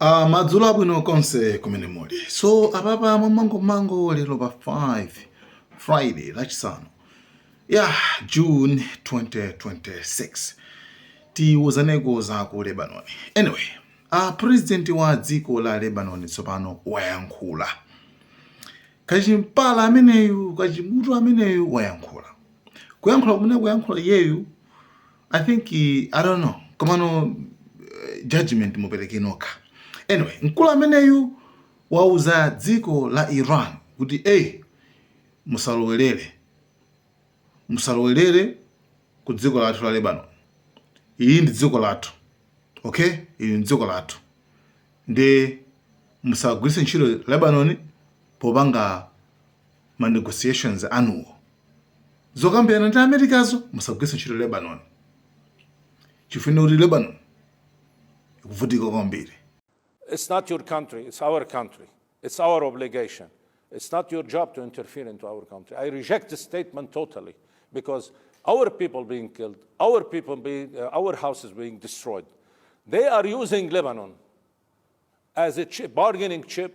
Uh, madzulo abwino konse kumene muli so apapa mmangomango lero pa 5 friday lachisanu ya yeah, june 2026 tiwuzaneko za ku lebanon anyway uh, president wa dziko la lebanon tsopano wayankhula kachimpala ameneyu kachimutu ameneyu wayankhula kuyankhula kumene kuyankhula iyeyu I think i don't know komano uh, judgment mupereke nokha anyway mkulu ameneyu wauza dziko la iran kuti ey musalowelere musalowelere ku dziko lathu la lebanon ili ndi dziko lathu okay ili ndi dziko lathu nde musagwiritse ntchito lebanon popanga ma negotiations anuwo zokambirana ndi amerikazo musagwiritse ntchito lebanon chifukwa kuti lebanon ikuvutika kwambiri It's not your country, it's our country. It's our obligation. It's not your job to interfere into our country. I reject this statement totally because our people being killed, our people being, uh, our houses being destroyed. They are using Lebanon as a chip, bargaining chip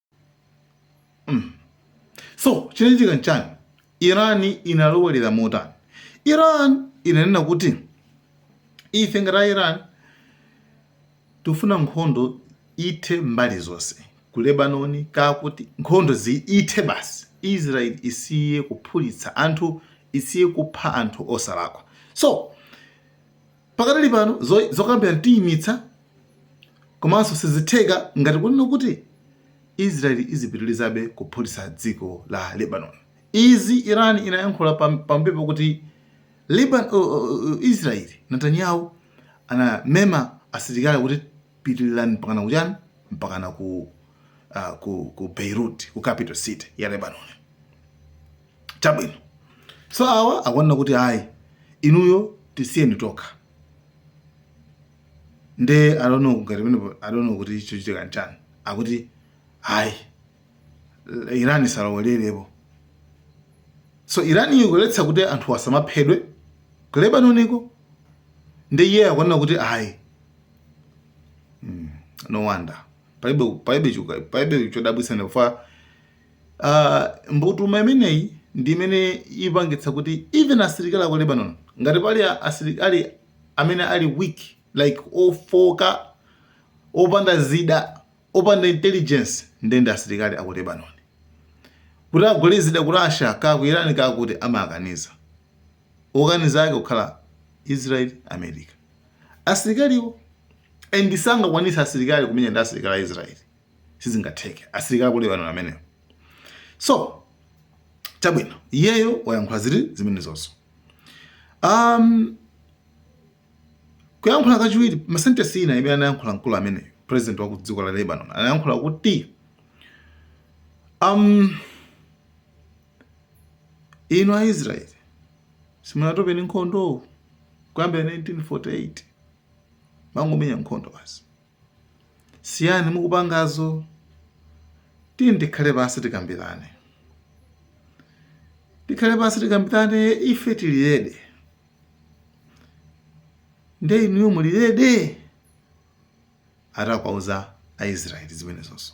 mm. so chinachitika nchani iran inalowerera motani iran inanena kuti ife ngati a iran tifuna nkhondo ithe mbali zonse ku lebanoni kaya kuti nkhondo zithe basi israel isiye kuphulitsa anthu isiye kupha anthu osalakwa so Pakadali pano zokambirana tiyimitsa komanso sizitheka ngati kunena kuti Israel izipitilizabe kuphulitsa dziko la Lebanon. Izi Iran inayankhula pambuyo pokuti Israel Netanyahu anamema asilikali kuti pitililani mpakana kuchani? Mpakana ku Beirut, ku capital city ya Lebanon. chabwino so awa akuona kuti ayi inuyo tisiyeni tokha nde i don't know ngati pamenepo i don't know kuti chochitikacho nchani akuti ayi iran isalowererepo so iran ikuletsa kuti anthu asamaphedwe ku lebanoniko nde iye akuona kuti ayi no wonder palibe palibe chuka- palibe chodabwitsa ndikufa Mbutuma imeneyi ndi imene ipangitsa kuti even asilikali aku Lebanon ngati pali asilikali amene ali weak like ofooka, opanda zida, opanda intelligence nde ndi asilikali aku Lebanon. Kuti agule zida ku Russia kaya ku Iran kaya kuti amakaniza. Okaniza ake kukhala Israel, America. Asilikaliwo and sangakwanitse asilikali kumenya ndi asilikali a Israel. sizingatheke asilikali aku Lebanon amenewo so chabwino iyeyo wayankhula ziri zimenezozo um, kuyankhula kachiwiri, masentesi ina imene anayankhula mkulu ameneyo president wa kudziko la Lebanon anayankhula kuti um, inu a Israel simunatope ni nkhondo kuyambira 1948 mangomenya nkhondo basi Siyani mukupangazo, tiyeni tikhale pansi tikambirane. Tikhale pansi tikambirane ife tili ready. Nde inuyo muli ready? Ati akuwauza Aisraeli zimenezozo.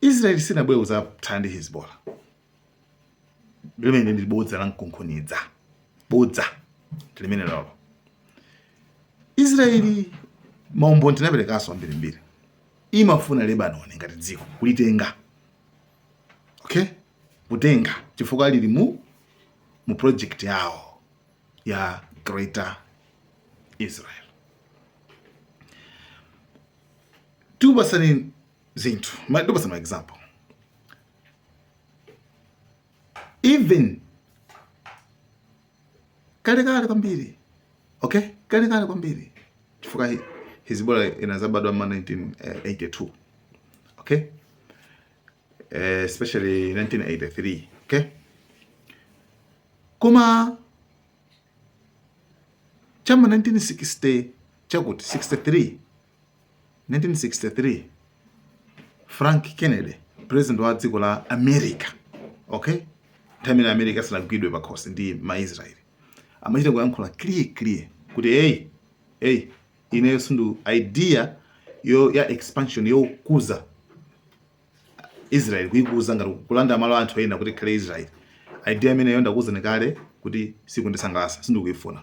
israeli sinabwere kuzathana ndi hezbola limene ndi bodza la mkunkhuniza bodza limene lolo israeli maumboni tinaperekanso ambirimbiri imafuna lebanoni ngati dziko kulitenga okay kutenga chifukwa lili mu mu project yawo ya greater israel tikupatsani zinthu Ma- tikupatsani ma example even kalekale kwambiri okay kalekale kwambiri chifukwa hi- hezbollah inazabadwa ma 1982 okay Eh, especially 1983 okay koma chama 1960 chakuti 63 1963 frank kennedy president wa dziko la america okay nthawi imene america asanagwidwe pakhosi ndi maisraeli amachita kuyankhula clear clear kuti eyi eyi ineyo sindu idea ya expansion yokuza israel kuikuza ngati kulanda malo a anthu ena kuti ikhale israel idea imeneyo ndakuuzani kale kuti sikundisangalatsa sindikuifuna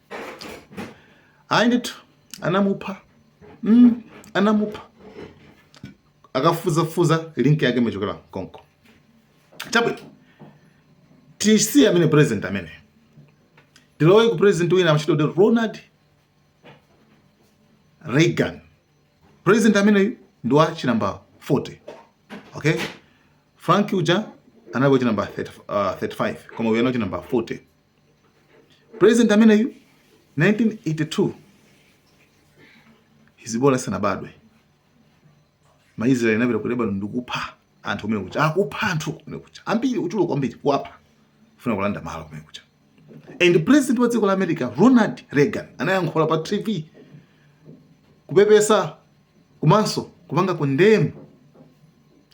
ayi ndithu anamupha mm, anamupha akafufuzafufuza link yake imachokera konko chabwino tisiye amene president amene ndilowe ku president wina amatchedwa kuti ronald reagan president ameneyu ndi wa chinamba 40 okay frank uja anali wachinamba 35 uh, koma uyu anali wachinamba 40 president ameneyu 1982 hezbollah sanabadwe maisraeli anapita ku lebanon ndikupha anthu kumenekuja akupha anthu kumenekuja ambiri ochuluka kwambiri kuwapha kufuna kulanda malo kumenekuja and president wa dziko la america ronald reagan anayankhula pa tv kupepesa Komanso kupanga condemn,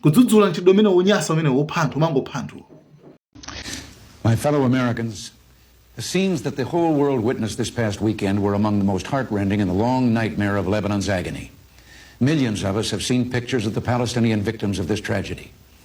kudzudzula mchitidwe umenewo wonyansa umenewo wopha anthu, womangopha anthuwo. My fellow Americans, the scenes that the whole world witnessed this past weekend were among the most heartrending in the long nightmare of Lebanon's agony. Millions of us have seen pictures of the Palestinian victims of this tragedy.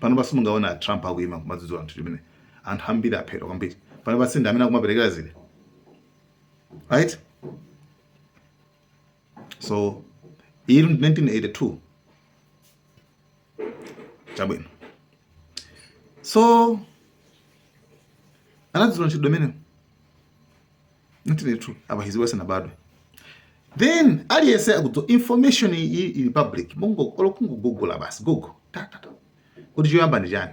pano pansi mukamuona a Trump akuima kumadzudzula anthu chimene anthu ambiri aphedwa kwambiri pano pansi ndi amene akumaperekera zile right so in 1982 chabwino so anadzudzula ntchito imeneyo 1982 apa Hezbollah isanabadwe then aliyese akudziwa information iyi ili pa public mungopanga google basi google ta ta ta kuti choyamba ndi chani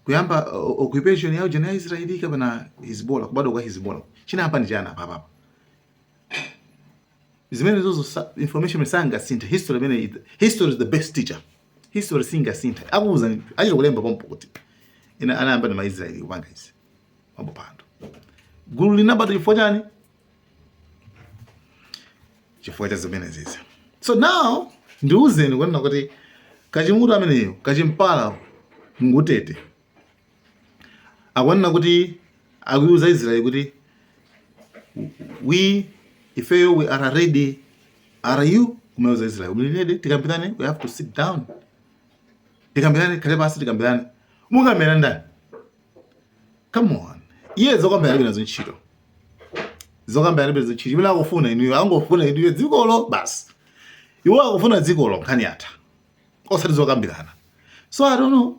kuyamba uh, occupation ya ujana ya Israeli kapena Hezbollah kubadwa kwa Hezbollah chinayamba ndi chani apa apa zimenezozo sa- information sangasinthe history imene it- history is the best teacher history singasinthe akuuza achita kulemba pompo kuti inde anayamba ndi maisraeli kupanga izi pomwe pano gulu linabadwa chifukwa chani chifukwa cha zimenezizi so now ndiuzeni kunena kuti kachimunthu ameneyo kachimpala ngutete akunena kuti akuiuza israeli kuti we ifeyo we are ready are you kumauza israeli mlinede tikambirane we have to sit down tikambirane tikhale pansi tikambirane mukambirana ndani come on iye zokambira alibe nazo ntchito zokambira alibe nazo ntchito zimene akufuna inuyo angofuna inuyo dzikolo basi iwo akufuna dzikolo nkhani yatha osati zokambirana so i don't know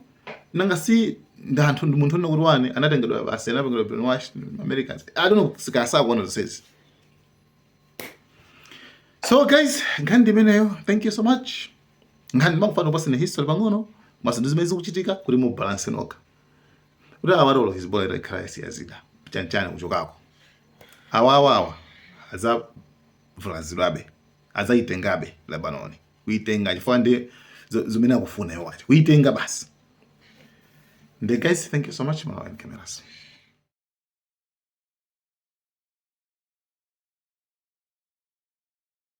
nanga si ndi anthu ndi munthu unokuti wani anatengedwa basi anapangidwa brainwash americans i don't know ngati sakuona zonsezi so guys nkhani ndi imeneyo thank you so much nkhani ndimafuna kukupatsani history pang'ono komanso ndi zimene zikuchitika kuti mubalanse nokha kuti olo Hezbollah itakhala yasiya zida chanchani kuchokako awawawa adzavulazidwabe adzayitengabe lebanoni kuyitenga chifukwa ndi zimene akufuna iwo aja kuyitenga basi nde guys thank you so much malawi cameras